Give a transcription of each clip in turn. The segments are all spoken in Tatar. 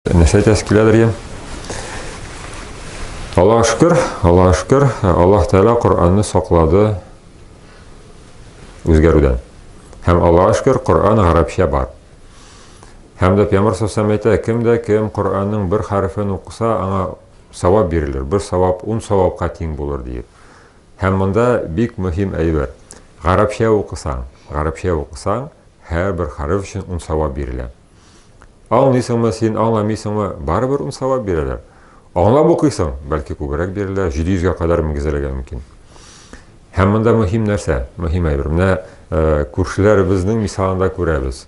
Нәрсә әйтәсе киләдер ия? Аллаһ шөкер, Аллаһ шөкер, Аллаһ Тәгалә Коръәнне саклады үзгәрүдән. Һәм Аллаһ шөкер, Коръән гарәпчә бар. Һәм дә Пәйгамбер сәлләм әйтә, кем дә кем Коръәннең бер хәрефен укыса, аңа савап бирелер. Бер савап 10 савапка тиң булыр диеп. Һәм монда бик мөһим әйбер. Гарәпчә укысаң, гарәпчә укысаң, һәр бер хәреф өчен 10 савап бирелә. Аңлыйсыңмы син, аңламыйсыңмы, барыбер ун савап бирәләр. Аңлап укыйсың, бәлки күбрәк бирелә, 700 гә кадәр мөгезләргә мөмкин. Һәм монда мөһим нәрсә, мөһим әйбер. Менә э, күршеләребезнең мисалында күрәбез.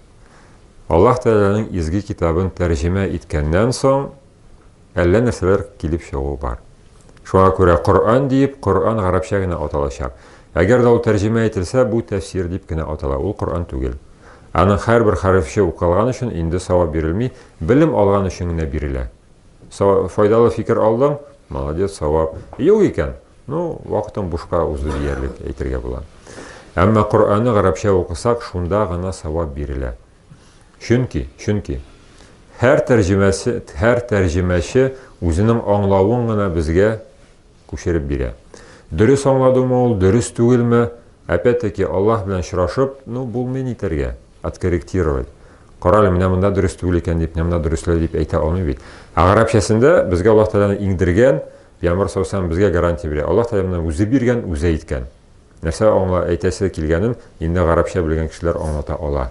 Аллаһ Тәгаләнең изге китабын тәрҗемә иткәннән соң, әллә нәрсәләр килеп чыгу бар. Шуңа күрә Коръән диеп, Коръән гарәпчә генә аталачак. Әгәр дә ул тәрҗемә ителсә, бу тәфсир дип кенә атала, ул Коръән түгел. Аның һәрбер хәрефче укылган өчен инде савап бирелми, белем алган өчен генә бирелә. Файдалы фикер алдың, молодец, савап. Юк икән, ну, вакытың бушка узды диярлек әйтергә була. Әмма Коръәнне гарәпчә укысак, шунда гына савап бирелә. Чөнки, чөнки һәр тәрҗемәсе, һәр тәрҗемәче үзенең аңлавын гына безгә күчереп бирә. Дөрес аңладымы ул, дөрес түгелме? Опять-таки, Аллаһ белән очрашып, ну, булмый нитәргә, откорректировать. Карале, менә монда дөрес түгел икән дип, менә монда дөресләү дип әйтә алмый бит. Ә гарәпчәсендә безгә Аллаһ Тәгаләне иңдергән, Пәйгамбәр саллаллаһу алейһи ва саллям безгә гарантия бирә. Аллаһ Тәгалә менә үзе биргән, үзе әйткән. Нәрсә аңла әйтәсе килгәнен инде гарәпчә белгән кешеләр аңлата ала.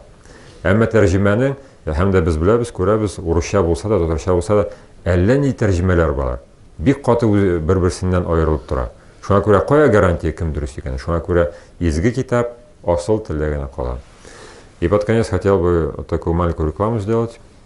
Әмма тәрҗемәнең, һәм дә без беләбез, күрәбез, урысча булса да, татарча булса да, әллә нинди тәрҗемәләр бар. Бик каты бер-берсеннән аерылып тора. Шуңа күрә кая гарантия кем дөрес икәне? Шуңа күрә изге китап асыл телдә генә кала. И под конец хотел бы такую маленькую рекламу сделать.